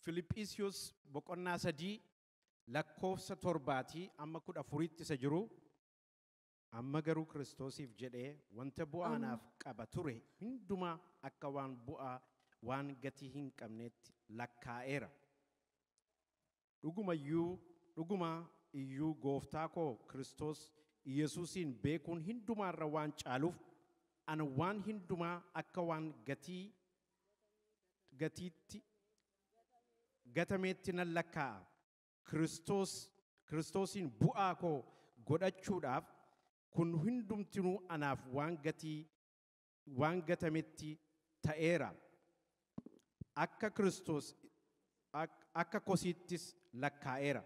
Filiphisiyus boqonnaa 3 lakkoofsa 7 amma 14tti isa jiru amma garuu Kiristoosiif jedhee wanta bu'aa naaf qaba ture hundumaa akka waan bu'aa waan gatii hin qabneetti lakkaa'eera. Dhuguma iyyuu, dhuguma iyyuu Gooftaa koo Kiristoos Iyyasuusiin beekuun hindumaa irra waan caaluuf, ana waan hindumaa akka waan gatii, gatiitti, gatameetti nan lakkaa'a. Kiristoos, Kiristoosiin bu'aa koo godhachuudhaaf, kun hundumtinuu anaaf waan gatii, waan gatametti ta'eera. Akka Kiristoos akka kosiittis lakkaa'eera.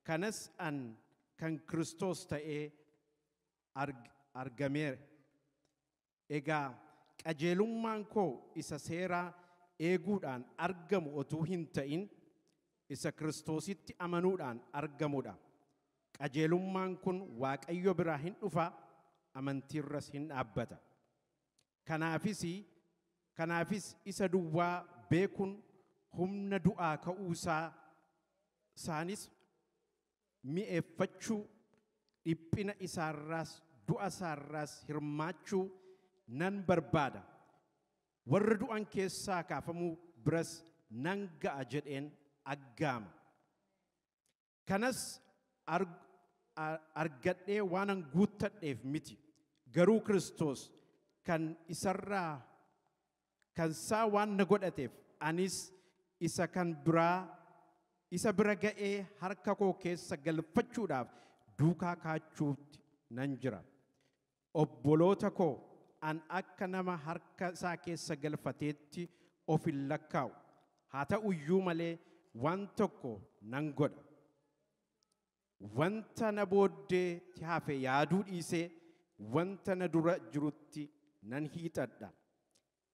Kanas an kan Kiristoos ta'ee argameera. Egaa qajeelummaan koo isa seeraa eeguudhaan argamu otuu hin ta'in isa Kiristoositti amanuudhaan argamudha. Qajeelummaan kun Waaqayyo biraa hin dhufa, amantiirras hin dhaabbata. Kanaafis, kanaafis isa duwwaa beekuun humna du'aa ka'uusaa isaanis mi'eeffachuu, dhiphina isaarraas du'a isaarraas hirmaachuu nan barbaada, warra du'an keessaa kaafamuu biras nan ga'a jedheen aggaama. Kanas argadhee waanan guuttadheef miti, garuu Kiristoos kan isarraa kan isaa waan na godhateef anis isa kan biraa isa bira ga'ee harka koo keessa galfachuudhaaf duukaa kaachuutti nan jira. Obboloota koo, an akka nama harka isaa keessa galfateetti of hin lakkaa'u, haa ta'u iyyuu malee waan tokko nan godha. Wanta na booddeetti hafe yaaduu dhiisee wanta na dura jirutti nan hiixadha.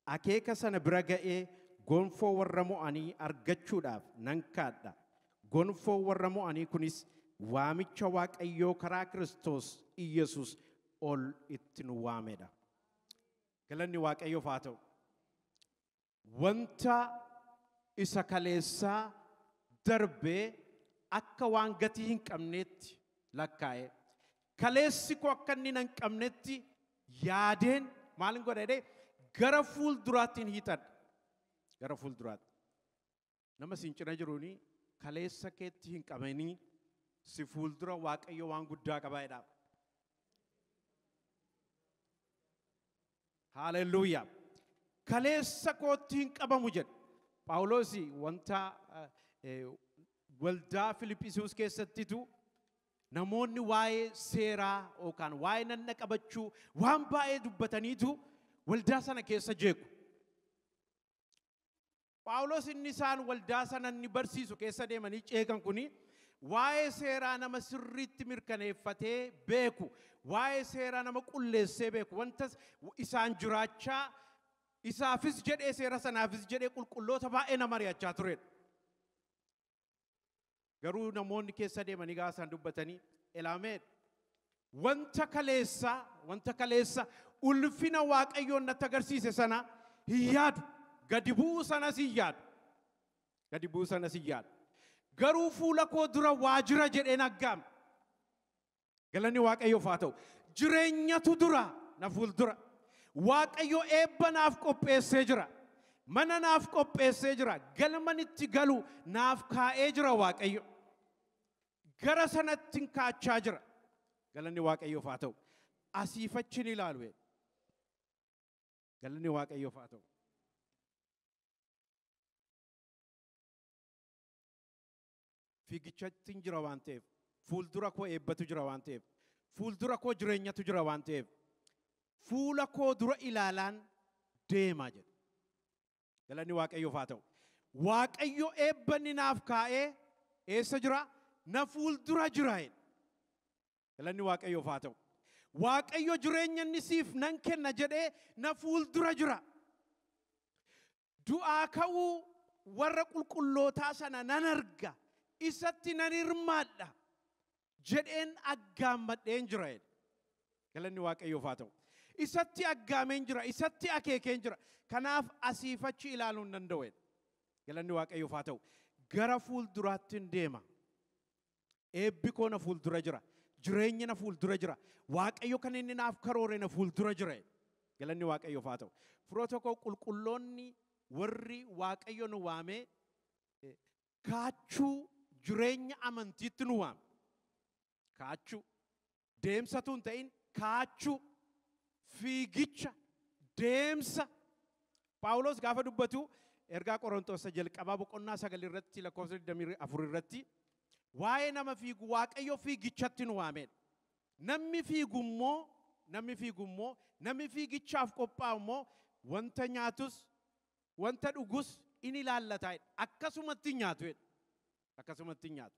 Akeeka sana bira ga'ee gonfoo warra mo'anii argachuudhaaf nan kaadha. Gonfoon warra mo'anii kunis waamicha Waaqayyoo karaa Kiristoos Iyyasuus ol itti nu waamedha. Galanni Waaqayyoof haa ta'u. Wanta isa kaleessaa darbee akka waan gatii hin qabneetti lakkaa'ee Kaleessi koo akka inni na hin qabnetti yaadeen maalin godha jedhee gara fuul duraattiin hiixadha. Gara fuul duraatti. Nama siin cina jiruuni kaleessa keetti hin qabanii si fuul dura waaqayyo waan guddaa qabaa jedhaa. Haaleluyyaa. Kaleessa kootti hin qabamu jedha. Phaawulosi wanta eh, eh, waldaa Filiphisius keessattitu Namoonni waa'ee seeraa yookaan waa'ee nanna qabachuu waan baay'ee dubbataniitu waldaa sana keessa jeequ. Phaawulos inni isaan waldaa sana inni barsiisu keessa deemanii ceekan kuni waa'ee seeraa nama sirriitti mirkaneeffatee beeku, waa'ee seeraa nama qulleessee beeku, wanta isaan jiraachaa isaafis jedhee seera sanaafis jedhee qulqulloota baay'ee nama ari'achaa turedha. Garuu namoonni keessa deemanii gaafa isaan dubbatanii Elaameed wanta kaleessa wanta kaleessa ulfina waaqayyoon natti agarsiise sana hin yaadu gadi bu'uu sanas hin yaadu gadi bu'uu sanas hin yaadu garuu fuula koo dura waa jira jedheen aggaame Galanni Waaqayyoof haa ta'u. Jireenyatu dura na fuuldura. Waaqayyo eebba naaf qopheessee jira. Mana naaf qopheessee jira. Galman itti galu naaf kaa'ee jira Waaqayyo. Gara sanatti hin kaachaa jira. Galanni Waaqayyoof haa ta'u. Asiif achi ni ilaalu. jedhe. Galanni Waaqayyoof haa ta'u. Fiigichattin jira waan ta'eef, fuuldura koo eebbatu jira waan ta'eef, fuuldura koo jireenyatu jira waan ta'eef, fuula koo dura ilaalaan deema jedhe. Galanni Waaqayyoof haa ta'u. Waaqayyo eebba inni naaf kaa'ee eessa jira? Na fuuldura jira jedhe. Galanni Waaqayyoof haa ta'u. Waaqayyo jireenya inni siif nan kenna jedhee na fuuldura jira. Du'aa ka'uu warra qulqullootaa sana nan arga, isatti nan hirmaadha jedheen aggaammadheen jira jedhe. Galanni Waaqayyoof haa ta'u. Isatti aggaameen jira, isatti akeekeen jira. Kanaaf asiif achi ilaaluu hin danda'u jedhe. Galanni Waaqayyoof haa ta'u. Gara fuulduraattin deema. Eebbi koo na fuuldura jira. Jireenyi na fuuldura jira. Waaqayyo kan inni naaf karoore na fuuldura jira. Galanni Waaqayyoof haa ta'u. Firoota koo qulqulloonni warri Waaqayyo nu waamee eh, kaachuu jireenya amantiitti nu waame. Kaachuu. Deemsa utuu hin ta'in kaachuu, fiigicha, deemsa. Phaawulos gaafa dubbatu ergaa Qorontos isa jalqabaa boqonnaa sagal irratti lakkoofsa 24 irratti waa'ee nama fiigu Waaqayyo fiigichatti nu waameen. Namni fiigu immoo namni fiigu immoo namni fiigichaaf qophaa'u immoo wanta nyaatus wanta dhugus in ilaallata jedha. Akkasumatti hin nyaatu jedha. Akkasumatti hin nyaatu.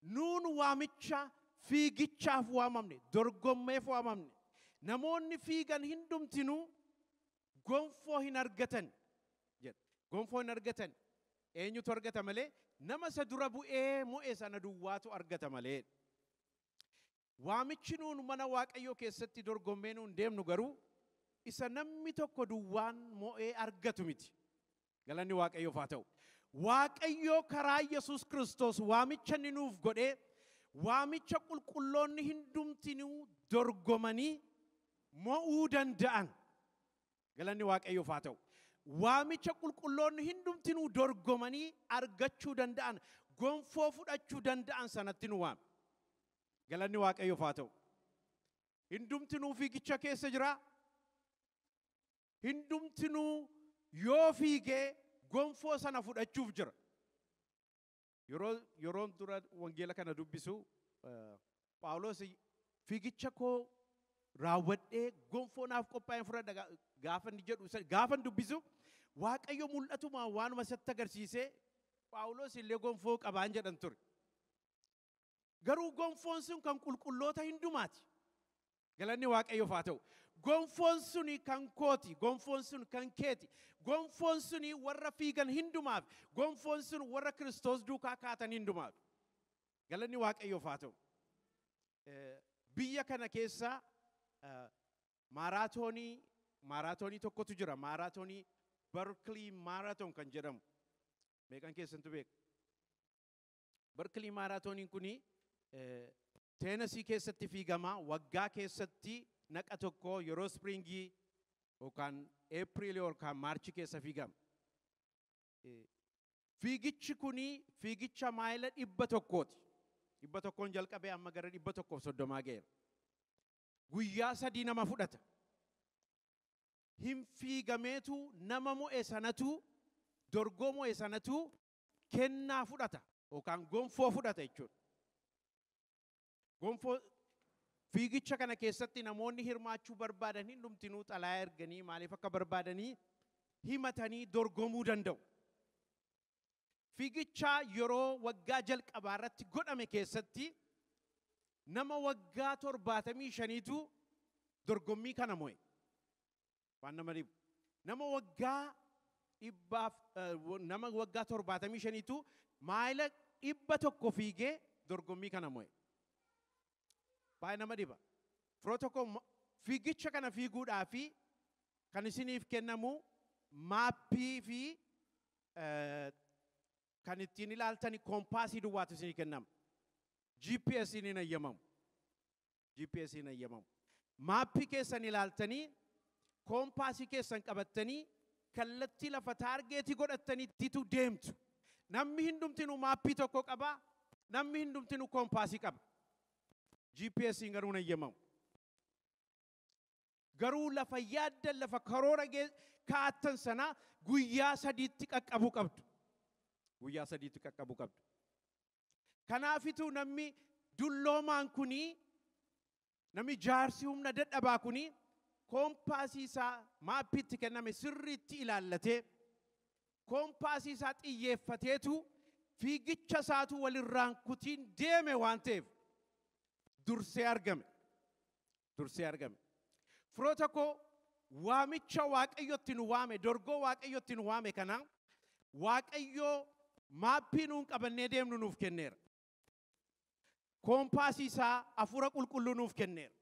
Nuun waamicha fiigichaaf waamamne, dorgommeef waamamne. Namoonni fiigan hindumtinuu gonfoo hin argatan jedha. Gonfoo hin argatan. Eenyutu argata malee? Nama isa dura bu'ee mo'e sana duwwaatu argata malee jedha. Waamichi nuun mana Waaqayyoo keessatti dorgommee nuun deemnu garuu isa namni tokko duwwaan mo'ee argatu miti. Galanni Waaqayyoof haa ta'u. Waaqayyoo karaa Yesuus Kiristoos waamicha inni nuuf godhee waamicha qulqulloonni hundumtinuu dorgomanii mo'uu danda'an Galanni Waaqayyoof haa ta'u. Waamicha qulqulloonni hundumtinuu dorgomanii argachuu danda'an, gonfoo fudhachuu danda'an sanatti nu waame. Galanni Waaqayyoof haa ta'u. Hundumtinuu fiigicha keessa jira. Hundumtinuu yoo fiigee gonfoo sana fudhachuuf jira. Yeroo yeroon dura wangeela kana dubbisu Phaawulos fiigicha koo raawwadhee gonfoo naaf qophaa'een fudhadha gaa- gaafa inni jedhu isa- gaafa inni dubbisu Waaqayyo mul'atumaan waanuma isatti agarsiisee Phaawulos illee gonfoo qabaan jedhan ture. Garuu gonfoon sun kan qulqulloota hundumaati. Galanni Waaqayyoof haa ta'u. Gonfoon suni kan kooti, gonfoon sun kan keeti, gonfoon suni warra fiigan hundumaaf, gonfoon sun warra Kiristoos duukaa kaatan hundumaaf. Galanni Waaqayyoof haa ta'u. Eh, Biyya kana keessa eh, maaraatoonii maaraatoonii tokkotu jira. Maaraatoonii Berkeley Marathon kan jedhamu. Meeqan keessantu beeka? Barkilii maaraatooniin kun teenasii keessatti fiigama waggaa keessatti naqa tokko yeroo spiriingii yookaan eepiriilii yookaan maarchi keessa fiigama. Fiigichi kun fiigicha maayila dhibba tokkooti. Dhibba tokkoon jalqabee amma gara dhibba tokkoof soddomaa ga'eera. Guyyaa sadii nama fudhata. Hin fiigameetu nama mo'e sanatu dorgoo mo'e sanatu kennaa fudhata yookaan gonfoo fudhata jechuudha. Gonfoo fiigicha kana keessatti namoonni hirmaachuu barbaadan hundumtinuu xalayaa erganii maaliif akka barbaadanii himatanii dorgomuu danda'u. Fiigicha yeroo waggaa jalqabaa irratti godhame keessatti nama waggaa torbaatamii shaniitu dorgommii kana mo'e. Waan nama dhibu. Nama waggaa dhibbaaf eh, wa- nama waggaa torbaatamii shaniitu maayila dhibba tokko fiigee dorgommii kana mo'e. Baay'ee nama dhiba. Firoo tokko mo- fiigicha kana fiiguudhaa fi kan isiniif kennamu maappii fi eh, kan ittiin ilaaltani koompaasii duwwaatu isinii kennama. GPS hin hayyamamu. GPS hin hayyamamu. Maappii keessan ilaaltanii, koompaasii keessan qabattanii, kallattii lafa taargeetii godhattaniittitu deemtu. Namni hundumtinuu maappii tokko qaba, namni hundumtinuu koompaasii qaba. GPSiin garuu hin hayyamamu. Garuu lafa yaaddan lafa karoora gee- kaa'attan sana guyyaa sadiitti qaqqabuu qabdu. Guyyaa sadiitti qaqqabuu qabdu. Kanaafituu namni dulloomaan kuni namni jaarsi humna dadhabaa kuni koompaasii isaa maappii itti kenname sirriitti ilaallatee koompaasii isaa xiyyeeffateetu fiigicha isaatu walirraan kutiin deeme waan ta'eef dursee argame. dursee argame. Firoota koo waamicha Waaqayyotti nu waame, dorgoo Waaqayyotti nu waame kana Waaqayyoo maappii nuun qabannee deemnu nuuf kenneera. Koompaasii isaa hafuura qulqulluu nuuf kenneera.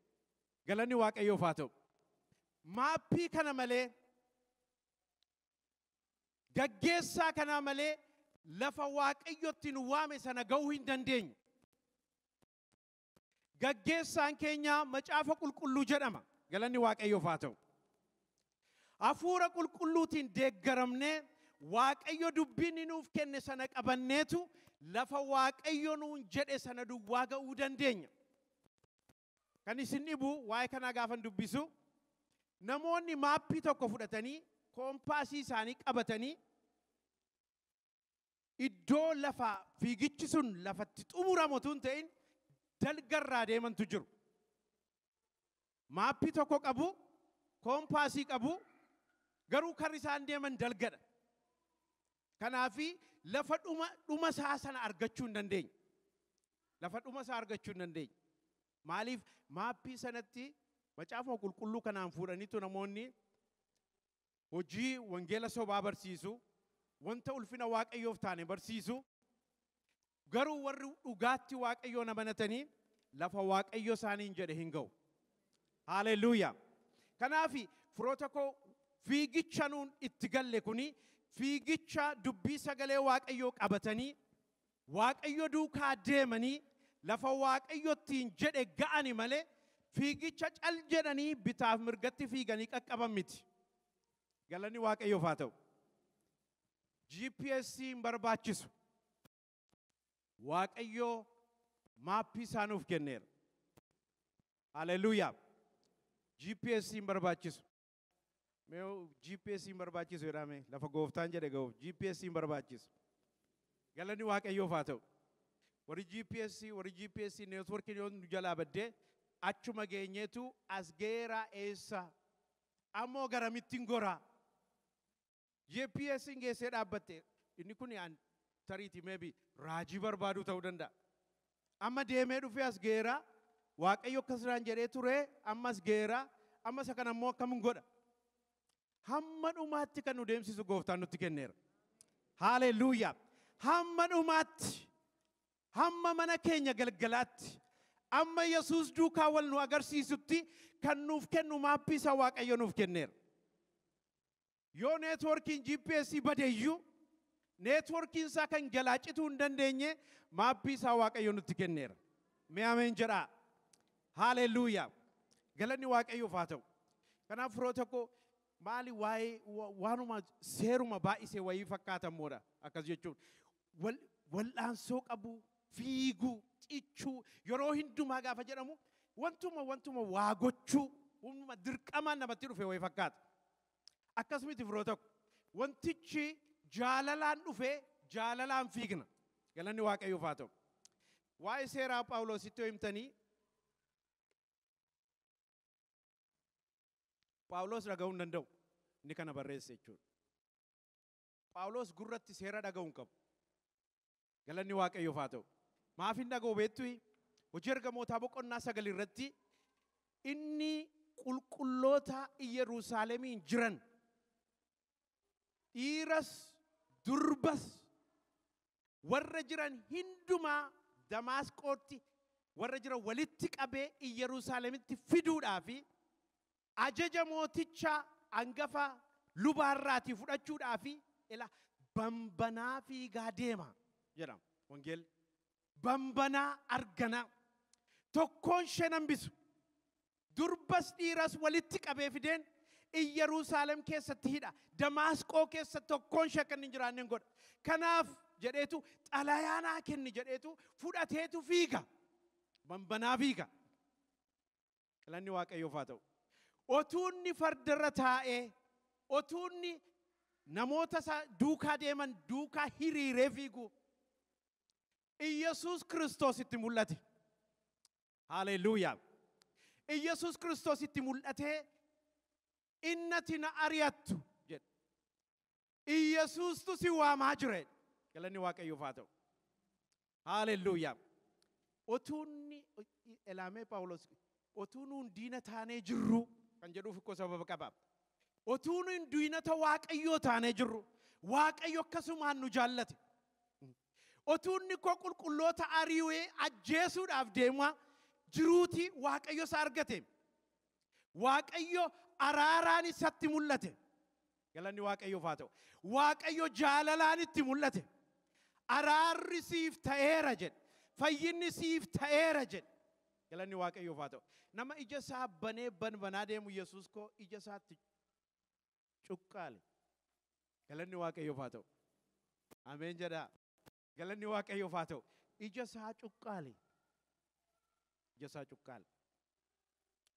Galanni Waaqayyoof haa ta'u. Maappii kana malee gaggeessaa kanaa malee lafa Waaqayyotti nu waame sana ga'uu hin dandeenyu. Gaggeessaan keenya macaafa qulqulluu jedhama. Galanni Waaqayyoof haa ta'u. Hafuura qulqulluutiin deeggaramnee Waaqayyo dubbii inni nuuf kenne sana qabanneetu lafa Waaqayyo nuun jedhe sana duwwaa ga'uu dandeenya. Kan isin dhibu waa'ee kanaa gaafan dubbisu namoonni maappii tokko fudhatanii koompaasii isaanii qabatanii iddoo lafa fiigichi sun lafatti xumuramu tun ta'in dalgarraa deemantu jiru. Maappii tokko qabu, koompaasii qabu, garuu karri isaan deeman dalgadha. Kanaafi lafa dhuma dhuma isaa sana argachuu hin dandeenye. Lafa dhuma isaa argachuu hin dandeenye. Maaliif maappii sanatti macaafa qulqulluu kanaan fuudhaniitu namoonni hojii wangeela sobaa barsiisu, wanta ulfina Waaqayyoof taane barsiisu, garuu warri dhugaatti Waaqayyoon amanatanii lafa Waaqayyo isaaniin jedhe hin ga'u. Haaleluyyaa! Kanaaf firoota koo fiigicha nuun itti galle kuni fiigicha dubbii sagalee Waaqayyoo qabatanii Waaqayyo duukaa deemanii lafa Waaqayyo ittiin jedhe ga'ani malee fiigicha cal jedhanii bitaaf mirgatti fiiganii qaqqaban miti. Galanni Waaqayyoof haa ta'u. GPS hin barbaachisu. Waaqayyo maappii isaa nuuf kenneera. Haleluuyaa! GPS hin barbaachisu. Mee GPS hin barbaachisu jedhaa mee lafa gooftaan jedhe ga'uuf GPS hin barbaachisu. Galanni waaqayyoof haa ta'u. Warri GPS warri GPS neetworkiin yoo nu jalaa baddee achuma geenyeetu as ga'eeraa eessa ammoo garamittiin goraa. GPS'n geessee dhaabbatte. Inni kuni an tariiti maybe raajii barbaaduu ta'uu danda'a. Amma deemee dhufee as ga'eera. Waaqayyo akkas naan jedhee ture amma as ga'eera. Amma isa kana immoo akkamin godha? Hamma dhumaatti kan nu deemsisu gooftaan nutti kenneera. Haaleluyyaa. Hamma dhumaatti, hamma mana keenya galgalaatti, amma Yesuus duukaa wal nu agarsiisutti kan nuuf kennu maappii isa Waaqayyo nuuf kenneera. Yoo neetwoorkiin GPS bade iyyuu neetwoorkiin isaa kan jalaa cituu hin dandeenye maappii isaa Waaqayyo nutti kenneera. Mee ameen jedhaa. Haaleluuyaa. Galanni Waaqayyoof haa ta'u. Kanaaf firoota koo maali waa'ee wa- waanuma seeruma baay'isee wayii fakkaata immoodha akkas jechuun. wal- wal'aansoo qabu, fiiguu, cichuu, yeroo hundumaa gaafa jedhamu wantuma wantuma waa gochuu, humnuma dirqamaan namatti dhufe wayii fakkaata. Akkas miti firoota ko. Wantichi jaalalaan dhufe jaalalaan fiigna. Galanni Waaqayyoof haa ta'u. Waa'ee seeraa Phaawulositti yoo himtanii Phaawulos dhaga'uu hin danda'u. Inni kana barreesse jechuudha. Phaawulos gurratti seera dhaga'u hin qabu. Galanni Waaqayyoof haa ta'u. Maaf hin dhaga'u beektuyi? Hojii ergamootaa boqonnaa sagal irratti inni qulqulloota Iyyeruusaalemiin jiran dhiiras durbas warra jiran hundumaa Damaasqootti warra jiran walitti qabee Iyyeruusaalemitti fiduudhaa fi ajaja mooticha angafa lubaa irraatii fudhachuudhaaf ila bambanaa fiigaa deema jedha wangeelli. Bambanaa arganaa tokkoon isheen hambisu durbas dhiiras walitti qabee fideen Iyyaruusaalem keessatti hidha. Damaasqoo keessa tokkoon ishee akka inni hin jiraanne hin godha. Kanaaf jedheetu xalayaa naa kenni jedheetu fudhateetu fiiga. Bambanaa fiiga. Galanni Waaqayyoof haa ta'u. Otuu inni fardarra taa'ee, otuu inni namoota isa duukaa deeman duukaa hiriiree fiigu, Iyyasuus Kiristoos itti mul'ate. Haaleluuyaa! Iyyasuus Kiristoos itti mul'atee, innati na ari'attu jedhe. Iyyasuustu si waamaa jira jedhe. Galanni Waaqayyoof haa ta'u. Haalelluuyaa. Otuu inni elaamee Phaawulos otuu nuun diina taanee jirru kan jedhuuf ikkoo sababa qaba. Otuu nuun diinota Waaqayyoo taanee jirru Waaqayyo akkasumaan nu jaallate. Otuu inni koo qulqulloota ari'ee ajjeesuudhaaf deemaa jiruuti Waaqayyo isa argate. Waaqayyo araaraan isatti mul'ate. Galanni Waaqayyoof haa ta'u. Waaqayyo jaalalaan itti mul'ate. Araarri siif ta'eera jedhe. Fayyinni siif ta'eera jedhe. Galanni Waaqayyoof haa ta'u. Nama ija isaa banee banbanaa deemu Yesuus koo ija isaatti cuqqaale. Galanni Waaqayyoof haa ta'u. Ameen jedhaa. Galanni Waaqayyoof haa ta'u. Ija isaa cuqqaali. Ija isaa cuqqaali.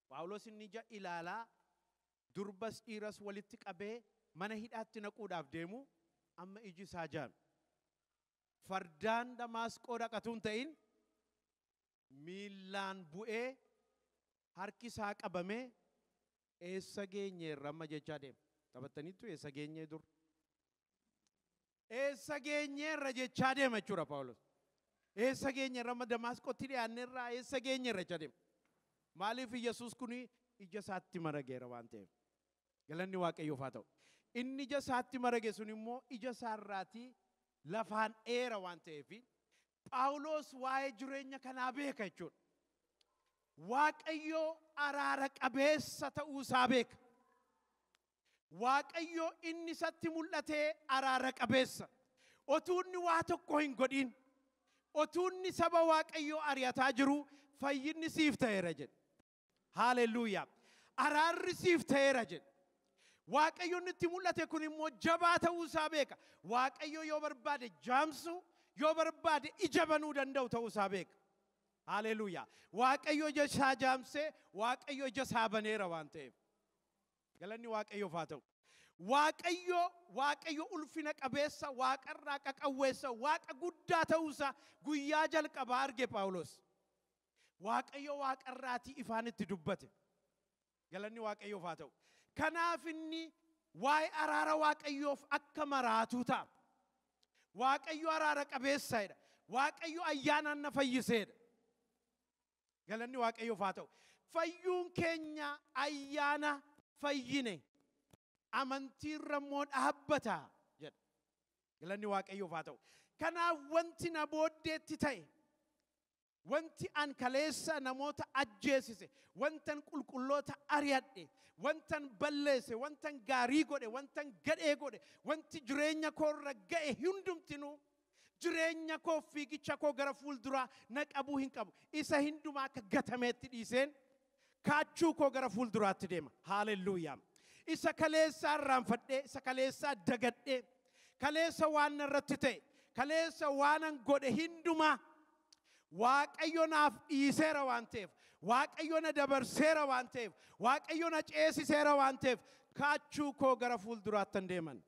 Phaawulos inni ija ilaalaa durbas dhiiras walitti qabee mana hidhaatti naquudhaaf deemu amma iji isaa jaame. Fardaan Damaasqoo dhaqatuu hin ta'in miillaan bu'ee harki isaa qabamee eessa geenye irra amma jechaa deema. Taphattaniittu eessa geenye dur? Eessa geenyeerra jechaa deema jechuudha Phaawulos. Eessa geenyeerra amma Damaasqotti dhiyaanneerraa eessa geenyeerra jechaa deema. Maaliif Yesuus kun ija isaatti marageera waan ta'eef. Galanni Waaqayyoof haa ta'u. Inni ija isaatti marage sun immoo ija isaarraatii lafaan dheera waan ta'eef Phaawulos waa'ee jireenya kanaa beeka jechuudha. Waaqayyoo araara qabeessa ta'uu isaa beeka. Waaqayyo inni isatti mul'ate araara qabeessa. Otuu inni waa tokko hin godhin, otuu inni saba Waaqayyoo ari'ataa jiru fayyinni siif ta'eera jedhe. Haalelluuyaa! Araarri siif ta'eera jedhe. Waaqayyo inni itti mul'ate kun immoo jabaa ta'uu isaa beeka. Waaqayyo yoo barbaade jaamsuu, yoo barbaade ija banuu danda'u ta'uu isaa beeka. Haalelluuyaa! Waaqayyo ija isaa jaamsee, Waaqayyo ija isaa baneera waan ta'eef. Galanni Waaqayyoof haa ta'u. Waaqayyo, Waaqayyo ulfina qabeessa, waaqarraa qaqawweessa, waaqa guddaa ta'uusaa guyyaa jalqabaa arge Phaawulos. Waaqayyo waaqarraatii ifaan itti dubbate. Galanni Waaqayyoof haa ta'u. Kanaaf inni waa'ee araara Waaqayyoof akka maraatuu ta'a. Waaqayyo araara qabeessadha. Waaqayyo ayyaanaan na fayyiseedha. Galanni Waaqayyoof haa ta'u. Fayyuun keenya ayyaana fayyine amantiirra immoo dhaabbata jedha. Galanni Waaqayyoof haa ta'u. Kanaaf wanti na booddeetti ta'e, wanti an kaleessa namoota ajjeesise, wantan qulqulloota ari'adhe, wantan balleesse, wantan gaarii godhe, wantan gadhee godhe, wanti jireenya koorra ga'e hundumtinuu Jireenya koof fiigicha koo gara fuulduraa na qabuu hin qabu. Isa hindumaa akka gatameetti dhiiseen kaachuu koo gara fuulduraatti deema. Haalelluuyaa! Isa kaleessaa irraanfadhee, isa kaleessaa dagadhee, kaleessa waan narratti ta'e, kaleessa waanan godhe hindumaa Waaqayyo naaf dhiiseera waan ta'eef, Waaqayyo na dabarseera waan ta'eef, Waaqayyo na ceesiseera waan ta'eef kaachuu koo gara fuulduraattan deeman.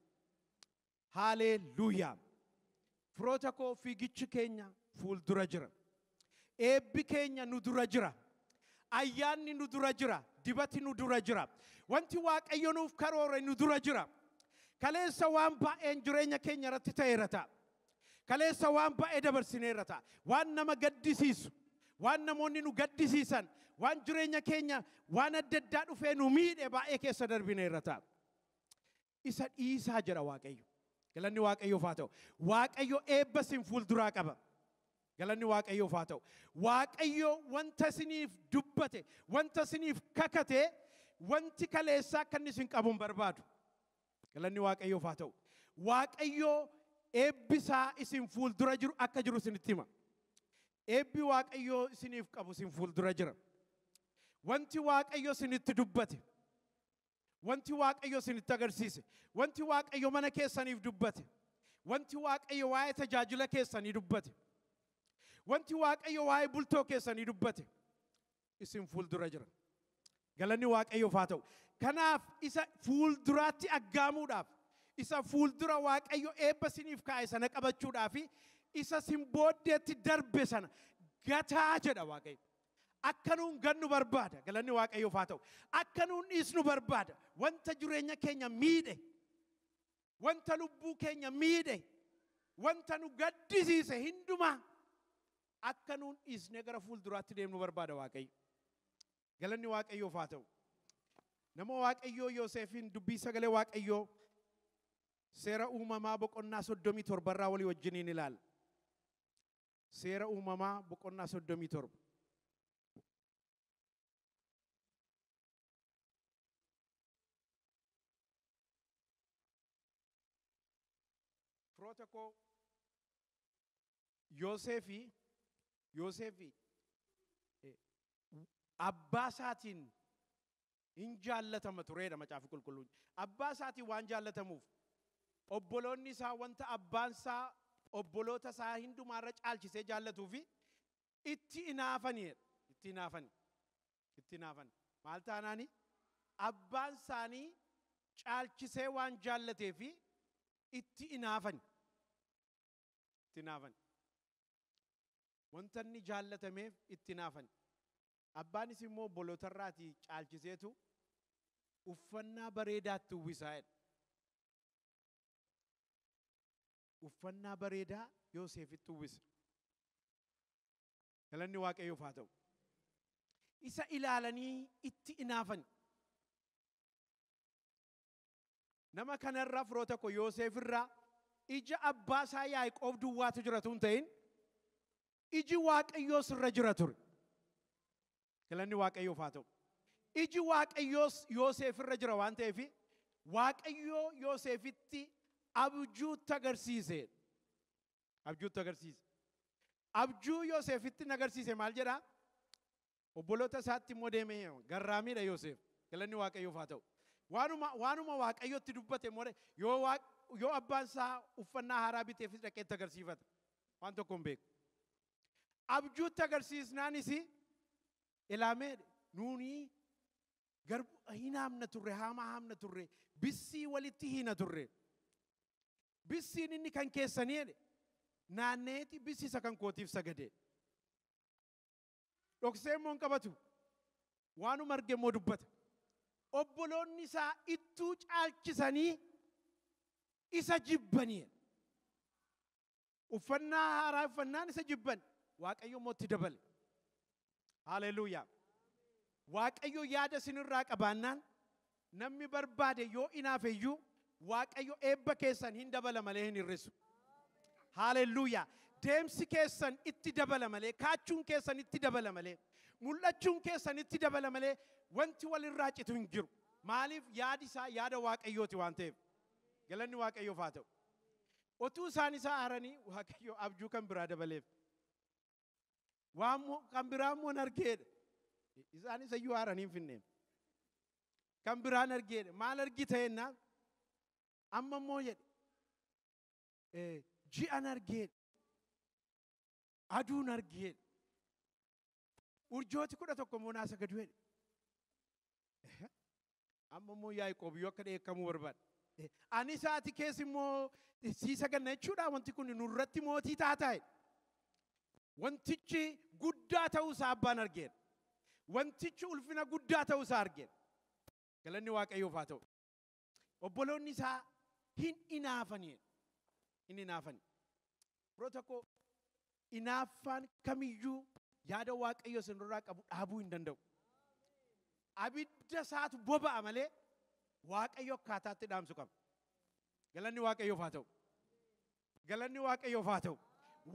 Haaleeluuyaa! Firoota koo fiigichi keenya fuuldura jira. Eebbi keenya nu dura jira. Ayyaanni nu dura jira. Dibati nu dura jira. Wanti Waaqayyo nuuf karoore nu dura jira. Kaleessa waan baay'een jireenya keenya irratti ta'eera ta'a. Kaleessa waan baay'ee dabarsineerra ta'a. Waan nama gaddisiisu, waan namoonni nu gaddisiisan, waan jireenya keenya waan adda addaa dhufee nu miidhe baay'ee keessa darbineerra ta'a. Isa dhiisaa jedha Waaqayyo. Galanni Waaqayyoof haa ta'u. Waaqayyo eebba isin fuulduraa qaba. Galanni Waaqayyoof haa ta'u. Waaqayyo wanta isiniif dubbate, wanta isiniif kakate, wanti kaleessaa akka inni isin qabu hin barbaadu. Galanni Waaqayyoof haa ta'u. Waaqayyo eebbisaa isin fuuldura jiru akka jiru isinitti hima. Eebbi Waaqayyo isiniif qabu isin fuuldura jira. Wanti Waaqayyo isinitti dubbate, Wanti Waaqayyo isinitti agarsiise, wanti Waaqayyo mana keessaniif dubbate, wanti Waaqayyo waa'ee tajaajila keessanii dubbate, wanti Waaqayyo waa'ee bultoo keessanii dubbate isin fuuldura jira. Galanni Waaqayyoof haa ta'u. Kanaaf isa fuulduraatti aggaamuudhaaf, isa fuuldura Waaqayyo eebba isiniif kaa'e sana qabachuudhaaf, isa isin booddeetti darbe sana gataa jedha Waaqayyo. Akka nuun gannu barbaada. Galanni Waaqayyoof haa ta'u. Akka nuun dhiisnu barbaada. Wanta jireenya keenya miidhe, wanta lubbuu keenya miidhe, wanta nu gaddisiise hundumaa akka nuun dhiisnee gara fuulduraatti deemnu barbaada Waaqayyo. Galanni Waaqayyoof haa ta'u. Nama Waaqayyoo Yooseefiin dubbii sagalee Waaqayyoo seera uumamaa boqonnaa soddomii torbarraa walii wajjiniin ilaala. Seera Uumamaa boqonnaa 37. Firoota koo Yooseefi Yooseefi eh, abbaa isaatiin in jaallatama ture jedha Macaafi Qulqulluun. Abbaa isaatiin waan jaallatamuuf, obboloonni isaa wanta abbaan isaa obboloota isaa hundumaa irra caalchisee jaallatuu fi itti inaafani jedha. Itti inaafani. Itti inaafani. Maal taanaani? Abbaan isaanii caalchisee waan jaallatee fi itti inaafani. Itti inaafani. Wanta inni jaallatameef itti inaafani. Abbaanis immoo obbolotarraatii caalchiseetu uffannaa bareedaa itti uwwisaa jedha. Uffannaa bareedaa Yooseefitti uwwisa. Galanni Waaqayyoof haa ta'u. Isa ilaalanii itti inaafani. Nama kanarraa firoota koo Yooseef irraa ija abbaa isaa Yaaqoob duwwaatu jira tun ta'in iji Waaqayyoos irra jira ture. Galanni Waaqayyoof haa ta'u. Iji Waaqayyoos Yooseef irra jira waan ta'eef Waaqayyoo Yooseefitti abjuutti agarsiise. Abjuutti agarsiise. Abjuu Yooseefitti agarsiise maal jedhaa? Obboloota isaatti immoo deemee hima. Garraamiidha Yoseef. Galanni Waaqayyoof haa ta'u. Waanuma, waanuma Waaqayyotti dubbate immoo yoo, waaq, yoo abbaan isaa uffannaa haaraa biteefis dhaqee itti agarsiifata. Waan tokko hin beeku. Abjuutti agarsiisnaanis ilaamee nuuni garbu hin haamna turre, haamaa haamna turre, bissii walitti hiina turre. Bissiin inni kan keessanii jedhe naanneeti bissi isa kan kootiif sagadee. Dhoksee immoo hin qabatu. Waanuma arge immoo dubbata. Obboloonni isaa ittuu caalchisanii isa jibbanii. Uffannaa haaraa uffannaan isa jibban. Waaqayyo immoo itti dabale. Haleluuyaa. Waaqayyo yaada isinirraa qabaannaan Namni barbaade yoo inaafe iyyuu Waaqayyo eebba keessan hin dabala malee hin hir'isu. Haalelluuyaa! Deemsi keessan itti dabala malee, kaachuun keessan itti dabala malee, mul'achuun keessan itti dabala malee wanti walirraa citu hin jiru. Maaliif yaadi isaa yaada Waaqayyooti waan ta'eef. Galanni Waaqayyoof haa ta'u. Otuu isaan isa aaranii Waaqayyo abjuu kan biraa dabaleef. Waan mo- kan biraa immoo hin argeedha. Isaan isa iyyuu haaran hin finneem. Kan biraa hin argeedha. Maal argita jennaan? Amma immoo jedhe. eh, Ji'an argeedha. Aduun argeedha. Urjooti kudha tokko immoo naasa gadu jedhe. Amma immoo Yaaqoob iyyuu akka dheekkamuu barbaada. Eh, Ani sa'aatii keessa immoo eh, sii saganna jechuudha wanti kun nurratti mootii taataa jedhe. Wantichi guddaa ta'uu isaa abbaan argeera. Wantichi ulfina guddaa ta'uu isaa argeera. Galanni Waaqayyoof haa ta'u. Obboloonni isaa hin inaafani jedhe. Hin inaafani. Yeroo tokko inaaffaan kamiyyuu yaada Waaqayyo isin irraa qabu dhaabuu hin danda'u. Abidda isaatu boba'a malee Waaqayyo akkaataatti dhaamsu qaba. Galanni Waaqayyoof haa ta'u. Galanni Waaqayyoof haa ta'u.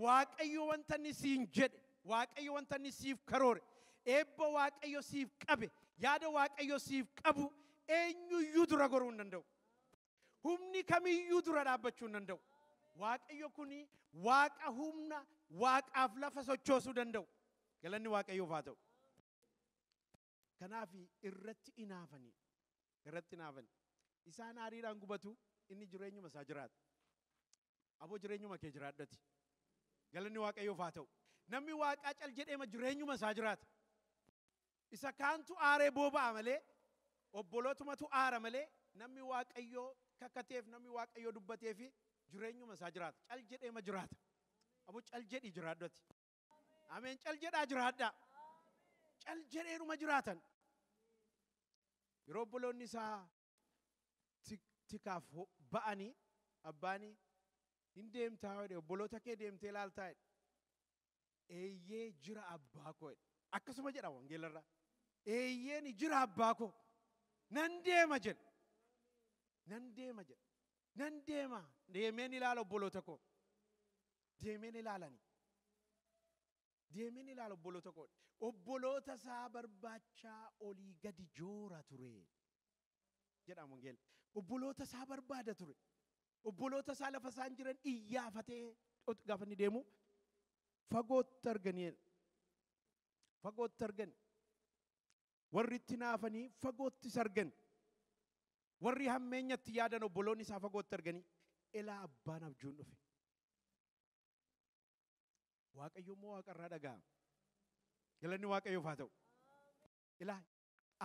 Waaqayyo wanta inni siin jedhe, Waaqayyo wanta inni siif karoore, eebba Waaqayyo siif qabe, yaada Waaqayyo siif qabu eenyuyyuu dura goruu hin danda'u. Humni kamiyyuu dura dhaabbachuu hin danda'u. Waaqayyo kun waaqa humna waaqaaf lafa sochoosuu danda'u. Galanni Waaqayyoof haa ta'u. Kanaaf irratti inaafanii irratti inaafanii isaan aariidhaan gubatu inni jireenyuma isaa jiraata. Aboo jireenyuma kee jiraadhu ati. Galanni Waaqayyoof haa ta'u. Namni Waaqaa cal jedheema jireenyuma isaa jiraata. Isa kaantu aaree booba'a malee, obbolootumatu aara malee, namni Waaqayyoo kakateef, namni Waaqayyoo dubbateefi jireenyuma isaa jiraata. Cal jedheema jiraata. Aboo cal jedhii jiraadhu ati. Ameen cal jedhaa jiraadhaa. Cal jedheedhuma jiraatan. Yeroo obboloonni isaa tikaaf ba'ani abbaani hin deemtaa jedhe obboloota kee deemtee laaltaa jedhe eeyyee jira abbaa koo jedhe akkasuma jedha wangeelarraa eeyyee ni jira abbaa koo nan deema jedhe nan deema jedhe nan deema deemeen ilaala obboloota koo deemeen ilaalani Deemeen ilaala obboloota koo. Obboloota isaa barbaachaa olii gadi joora ture. Jedhaan wangeela. Obboloota isaa barbaada ture. Obboloota isaa lafa isaan jiran iyyaafatee ot- gaafa inni deemu fagootti arganii jedha. Fagootti argan. Warri itti naafanii fagootti isa argan. Warri hammeenyatti yaadan obboloonni isaa fagootti arganii elaa abbaan abjuun dhufe. Waaqayyo immoo waaqa irraa dhaga'a. Galanni Waaqayyoof haa ta'u. Ilaa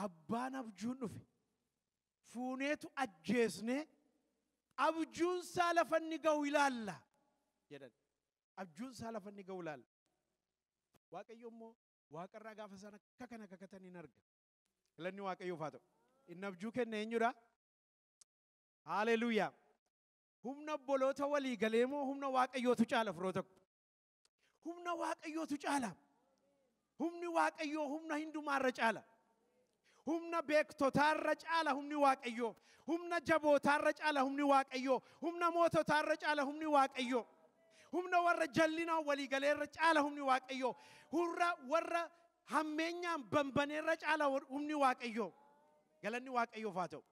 abbaan abjuun dhufe fuuneetu ajjeesnee abjuun isaa lafa inni ga'u ilaalla jedhan. Abjuun isaa lafa inni ga'u ilaalla. Waaqayyo immoo waaqa irraa gaafa isaan akka kana kakatan hin arga. Galanni Waaqayyoof haa ta'u. Inni abjuu kenne eenyudha? Haaleluuyaa. Humna obboloota walii galee moo humna waaqayyootu caala firoota ko? Humna waaqayyootu caala. Humni waaqayyoo humna hundumaarra caala. Humna beektotaarra caala humni waaqayyoo. Humna jabootaarra caala humni waaqayyoo. Humna moototaarra caala humni waaqayyoo. Humna warra jallinaan walii galeerra caala humni waaqayyoo. Hurra warra hammeenyaan bambaneerra caala humni waaqayyoo. Galanni waaqayyoof haa ta'u.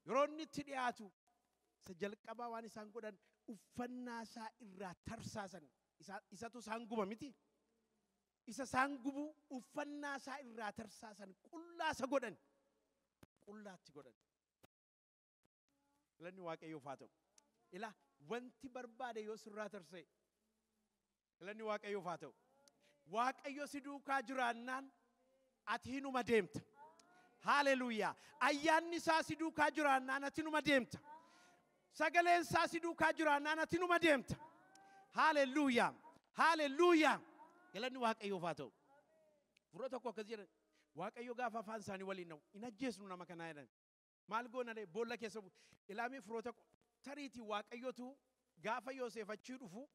Yeroo inni itti dhiyaatu Isa jalqabaa waan isaan godhan uffannaa isaa irraa tarsaasan. Isa, isatu isaan guba miti. Isa isaan gubu uffannaa isaa irraa tarsaasan qullaa isa godhan. Qullaatti godhan. Galanni Waaqayyoof haa ta'u. Ilaa wanti barbaade yoo sirraa tarsa'e Galanni Waaqayyoof haa ta'u. Waaqayyo si duukaa jiraannaan ati hinuma deemta. Haaleluuyaa. Ayyaanni isaa si duukaa jiraannaan ati numa deemta. Sagaleen isaa si duukaa jiraannaan ati numa deemta. Haaleluuyaa. Haaleluuyaa. Galanni Waaqayyoof haa ta'u. Furra tokko akkas jedhan. Waaqayyo gaafa afaan isaanii waliin na'u hin ajjeesnu nama kanaa jedhan. Maal goona ree? Boolla keessa buune. Ilaamee firoota koo, tariitii Waaqayyotu gaafa Yooseef achii dhufu,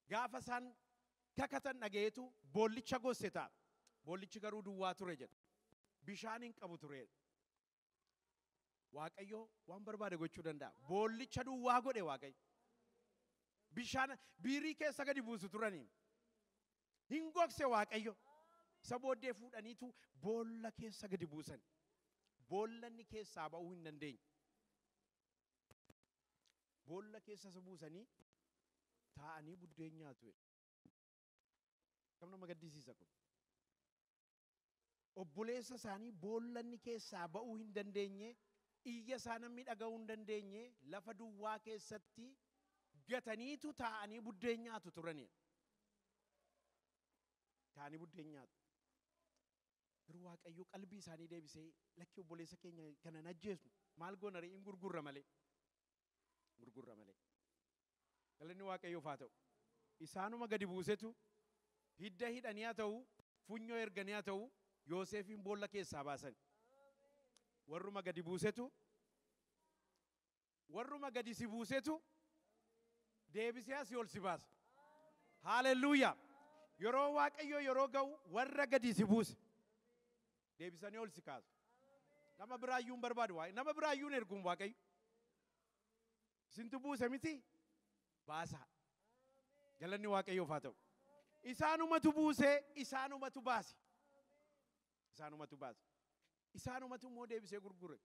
gaafa isaan kakatan dhaga'eetu boollicha gosse ta'a. Boollichi garuu duwwaa ture jedha. Bishaan hin qabu ture jedha. Waaqayyo waan barbaade gochuu danda'a. Boollicha duwwaa godhe Waaqayyo. Bishaan biirii keessa gadi buusu turanii. Hin gogse Waaqayyo. Isa booddee fuudhaniitu boolla keessa gadi buusan. Boolla inni keessaa ba'uu hin dandeenye. Boolla keessa isa buusanii taa'anii buddeen nyaatu. Kam nama gaddisiisa kun. obboleessa isaanii boolla inni keessaa ba'uu hin dandeenye, iyya isaa namni dhaga'uu hin dandeenye lafa duwwaa keessatti gataniitu taa'anii buddeen nyaatu turani. Taa'anii buddeen nyaatu. Garuu Waaqayyo qalbii isaanii deebisee lakki obboleessa keenya kana hin ajjeesnu maal goona ree in gurgurra malee. gurgurra malee. Galanni Waaqayyoof haa ta'u. Isaanuma gadi buusetu hidda hidhanii haa ta'u, funyoo erganii haa ta'u, Yooseefiin boolla keessaa baasan. Warruma gadi buusetu warruma gadi si buusetu deebisee asii ol si baasa. Haalelluuyaa! Yeroo Waaqayyoo yeroo ga'u warra gadi si buuse. deebisanii ol si kaasu. Nama biraa iyyuu hin barbaadu. Waa- Nama biraa iyyuu hin erguun Waaqayyo. Isintu buuse miti baasaa. Galanni Waaqayyoof haa ta'u. Isaanumatu buusee isaanumatu baase. Isaanumatu baase. Isaanumatu immoo deebisee gurgure.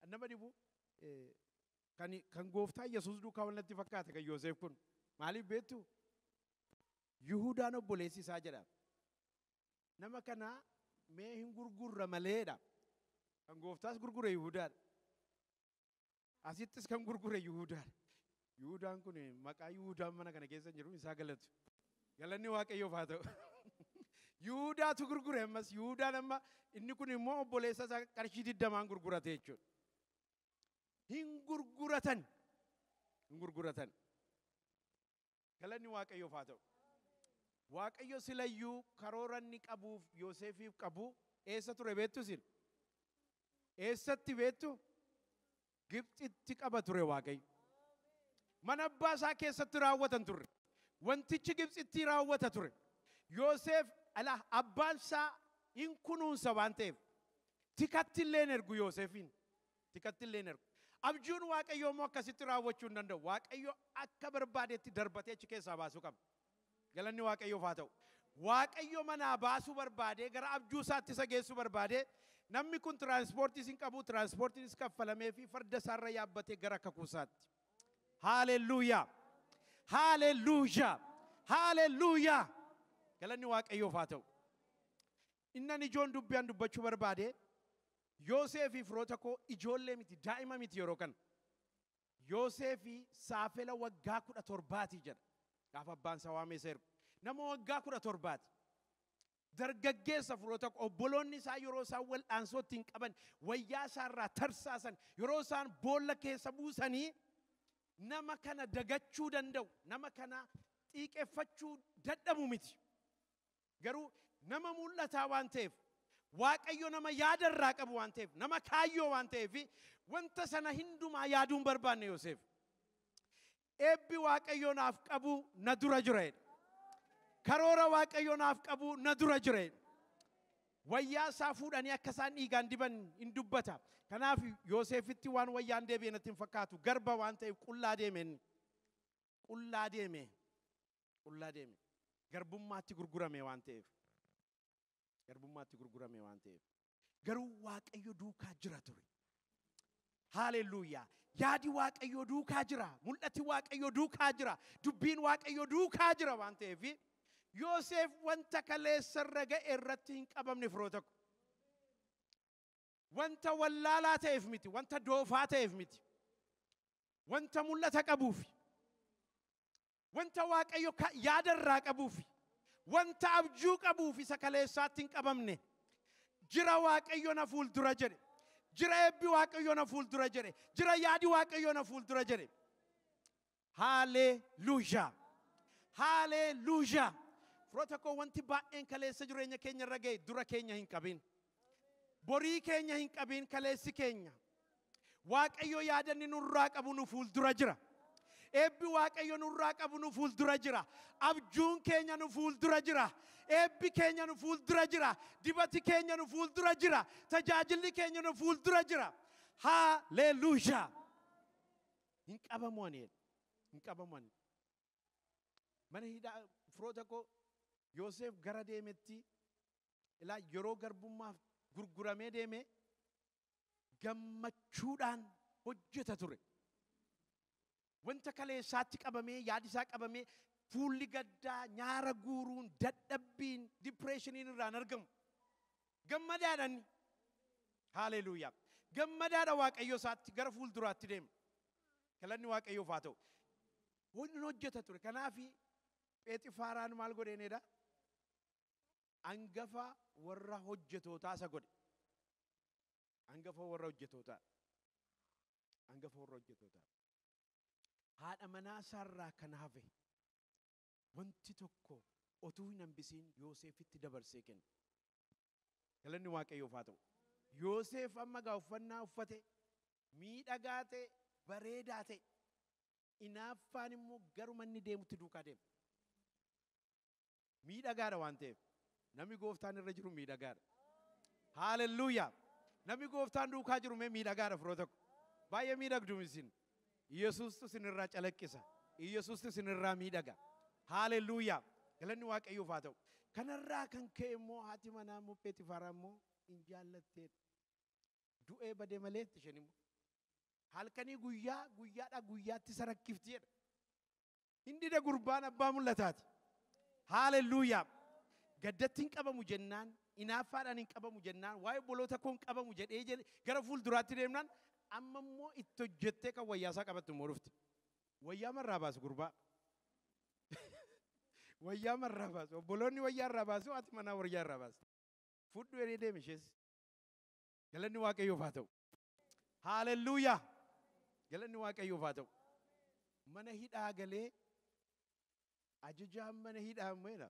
Kan Nama dhibu eh, kan kan gooftaa Yesuus duukaa wal natti fakkaate kan Yooseef kun. Maaliif beektu? Yihudaan obboleessi isaa jedha. Nama kana mee hin gurgurra maleedha. Kan gooftaas gurgure Yihudaadha. Asittis kan gurgure Yihudaadha. Yihudaan kun maqaa Yihudaan mana kana keessa hin jiru isaa galatu. Galanni Waaqayyoof haa ta'u. Yihudaatu gurgure ammas Yihudaan amma inni kun immoo obboleessa isaa qarshii digdamaan gurgurate jechuudha. Hin gurguratan. Hin gurguratan. Galanni Waaqayyoof haa ta'u. Waaqayyo silayyuu karoora inni qabuuf Yooseefiif qabu eessa ture beektu isin? Eessatti beektu? Gibxitti qaba ture Waaqayyo. Mana abbaa isaa keessatti raawwatan turre. Wantichi Gibxittii raawwata ture. Yooseef ala abbaan isaa hin kunuunsa waan ta'eef tikatti illee hin ergu Yooseefiin. tikatti illee hin ergu. Abjuun Waaqayyoo immoo akkasitti raawwachuu hin danda'u. Waaqayyo akka barbaadetti darbatee achi keessaa baasuu qaba. Galanni Waaqayyoof haa ta'u. Waaqayyo manaa baasuu barbaadee gara abjuu isaatti isa geessuu barbaadee namni kun tiraanspoortiis hin qabu, tiraanspoortiinis kaffalamee fi farda isaarra yaabbatee gara kakuu isaatti. Haalelluuyaa! Haalelluuyaa! Haalelluuyaa! Galanni Waaqayyoof haa ta'u. Innan ijoon dubbi an dubbachu barbaade Yoosee fi firoota koo ijoollee miti daa'ima miti yeroo kana. Yoosee fi saafela waggaa 17ti jedha gaafa abbaan isaa waamee isa ergu. Nama waggaa 17ti. Dargaggeessa firoota koo obboloonni isaa yeroo isaan wal'aansoo ittiin qaban wayyaa isaa irraa tarsaasan yeroo isaan boolla keessa buusanii nama kana dagachuu danda'u nama kana xiiqeffachuu dadhabu miti. Garuu nama mul'ataa waan ta'eef, Waaqayyo nama yaada irraa qabu waan ta'eef, nama kaayyoo waan ta'eef, wanta sana hundumaa yaaduu hin barbaanne Yoseef. Eebbi Waaqayyo naaf qabu na dura jira jedhe. Karoora Waaqayyo naaf qabu na dura jira jedhe. Wayyaa isaa fuudhanii akka isaan dhiigaan diban hin dubbata. Kanaaf Yooseefitti waan wayyaan deebi'e natti hin fakkaatu. Garba waan ta'eef qullaa deeme inni. qullaa deeme, qullaa deeme. Garbummaatti gurgurame waan ta'eef. Garbummaatti gurgurame waan ta'eef. Garuu Waaqayyo duukaa jira ture. Haaleluyyaa. Yaadi Waaqayyoo duukaa jira. Mul'ati Waaqayyoo duukaa jira. Dubbiin Waaqayyoo duukaa jira waan ta'eef. Yooseef wanta kaleessa irra ga'e irratti hin qabamne firoota koo. Wanta wallaalaa ta'eef miti, wanta doofaa ta'eef miti. Wanta mul'ata qabuufi. Wanta Waaqayyo ka- yaada irraa qabuufi. Wanta abjuu qabuufi isa kaleessaatti hin qabamne. Jira Waaqayyo na fuuldura jedhe. Jira eebbi Waaqayyo na fuuldura jedhe. Jira yaadi Waaqayyo na fuuldura jedhe. Haleluya! Haleluya! Firoota koo wanti baay'een kaleessa jireenya keenya irra ga'e dura keenya hin qabin. Borii keenya hin qabin kaleessi keenya. Waaqayyo yaadanni nurraa qabu nu fuuldura jira. Eebbi Waaqayyo nurraa qabu nu fuuldura jira. Abjuun keenya nu fuuldura jira. Eebbi keenya nu fuuldura jira. Dibati keenya nu fuuldura jira. Tajaajilli keenya nu fuuldura jira. Haleluya! hin qabamu ani jedhe. Hin qabamu ani. Mana hidhaa firoota koo Yooseef gara deemetti ilaa yeroo garbummaaf gurguramee deeme gammachuudhaan hojjeta ture. Wanta kaleessaatti qabamee yaadisaa qabamee fuulli gaddaa nyaara guuruun dadhabbiin dipireeshiniin irraan argamu. Gammadaadha inni. Haaleeluuyaa. Gammadaadha Waaqayyo isaatti gara fuulduraatti deema. Galanni Waaqayyoof haa ta'u. Inni hojjeta ture. Kanaaf Pheexifaaraan maal godheen edaa? Angafa warra hojjetootaa isa godhe. Angafa warra hojjetootaa. Angafa warra hojjetootaa. Haadha manaa isaarraa kan hafe. wanti tokko otuu hin hambisiin Yooseefitti dabarsee kenne. Galanni Waaqayyoof haa ta'u. Yooseef amma egaa uffannaa uffate, miidhagaa ta'e, bareedaa ta'e. Inaaffaan immoo garuma inni deemutti duukaa deema. Miidhagaadha waan ta'eef. Namni gooftaan irra jiru miidhagaadha. Haalelluuyaa! Namni gooftaan duukaa jiru mee miidhagaadha firoota ko. Baay'ee miidhagdu isin. Yesuustu isin irraa calaqqisa. Yesuustu isin irraa miidhaga. Haalelluuyaa! Galanni Waaqayyoof haa ta'u. Kanarraa kan ka'e immoo haati manaa immoo Pheexifaaraa immoo hin jaallatteedha. Du'ee badee malee itti isheen immoo. Halkanii guyyaa guyyaadhaa guyyaatti isa rakkifti jedha. Hin dida gurbaan abbaa mul'ataati. Haalelluuyaa. Gaddatti hin qabamu jennaan, inaaffaadhaan hin qabamu jennaan, waa'ee obboloota koo hin qabamu jedhee jedhe gara fuulduraatti deemnaan amma immoo itti hojjettee kan wayyaa isaa qabattu immoo dhufte. Wayyaa marraa baasu gurbaa. Wayyaa marraa baasu. Obboloonni wayyaa irraa baasu ati manaa wayyaa irraa baasu. Fudhu jedhee deeme ishees. Galanni Waaqayyoof haa ta'u. Haalelluuyaa! Galanni Waaqayyoof haa ta'u. Mana hidhaa galee ajajaan mana hidhaa meena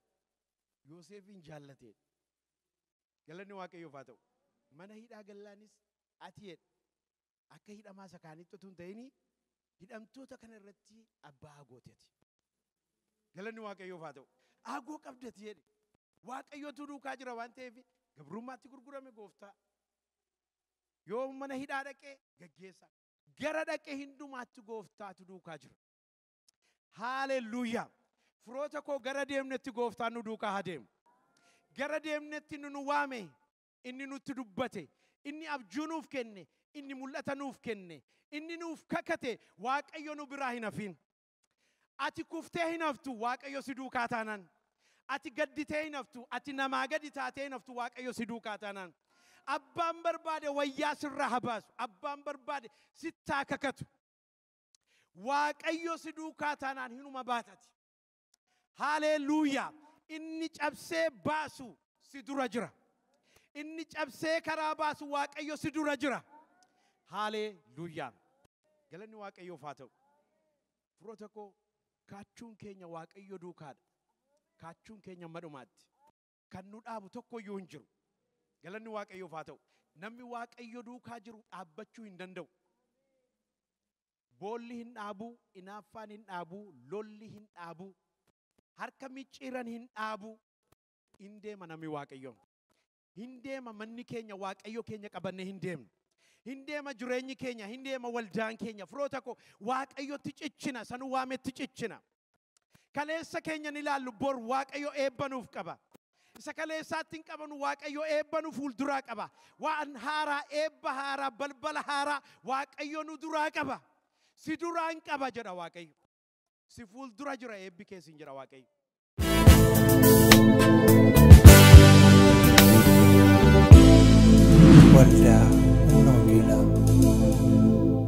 Yooseefiin jaallatee. Galanni Waaqayyoof haa ta'u. Mana hidhaa gallaanis ati jedhe akka hidhamaa isa kaanitti utuu hin ta'ini hidhamtoota kana irratti abbaa agooti ati. Galanni Waaqayyoof haa ta'u. Aagoo qabda ati jedhe. Waaqayyootu duukaa jira waan ta'eef gabrummaatti gurgurame gooftaa. Yoo mana hidhaa dhaqe gaggeessaa. Gara dhaqe hindumaatti gooftaatu duukaa jira. Haalelluuyaa! Firoota koo gara deemnetti gooftaan nu duukaa haa deemu. Gara deemnetti inni nu waame, inni nutti dubbate, inni abjuu nuuf kenne, inni mul'ata nuuf kenne, inni nuuf kakate Waaqayyo nu biraa hin hafiin. Ati kuftee hin haftu Waaqayyo si duukaa taanaan. Ati gadditee hin haftu, ati namaa gadi taatee hin haftu Waaqayyo si duukaa taanaan. Abbaan barbaade wayyaa sirraa haa baasu, abbaan barbaade sitti haa kakatu. Waaqayyo si duukaa taanaan hinuma baatati. Haaleeluuyaa! Inni cabsee baasu si dura jira. Inni cabsee karaa baasu Waaqayyo si dura jira. Haaleeluuyaa! Galanni Waaqayyoof haa ta'u. Firoota koo kaachuun keenya Waaqayyo duukaadha. Kaachuun keenya amma dhumaatti. Kan nu dhaabu tokko iyyuu hin jiru. Galanni Waaqayyoof haa ta'u. Namni Waaqayyo duukaa jiru dhaabbachuu hin danda'u. Boolli hin dhaabu, inaaffaan hin dhaabu, lolli hin dhaabu, harka micciiran hin dhaabu. Hin deema namni Waaqayyoo. Hin deema manni keenya Waaqayyo keenya qabannee hin deemnu. Hin deema jireenyi keenya, hin deema waldaan keenya. Firoota koo Waaqayyotti cichina, isa nu waametti cichina. Kaleessa keenya ni ilaallu bor Waaqayyo eebba nuuf qaba. Isa kaleessaatti hin qabanu Waaqayyo eebba nu fuulduraa qaba. Waan haaraa, eebba haaraa, balbala haaraa Waaqayyo nu duraa qaba. Si duraan qaba jedha Waaqayyo. si fuuldura jira eebbi kee siin jira waaqayyo. Waldaa Humna Wangeelaa.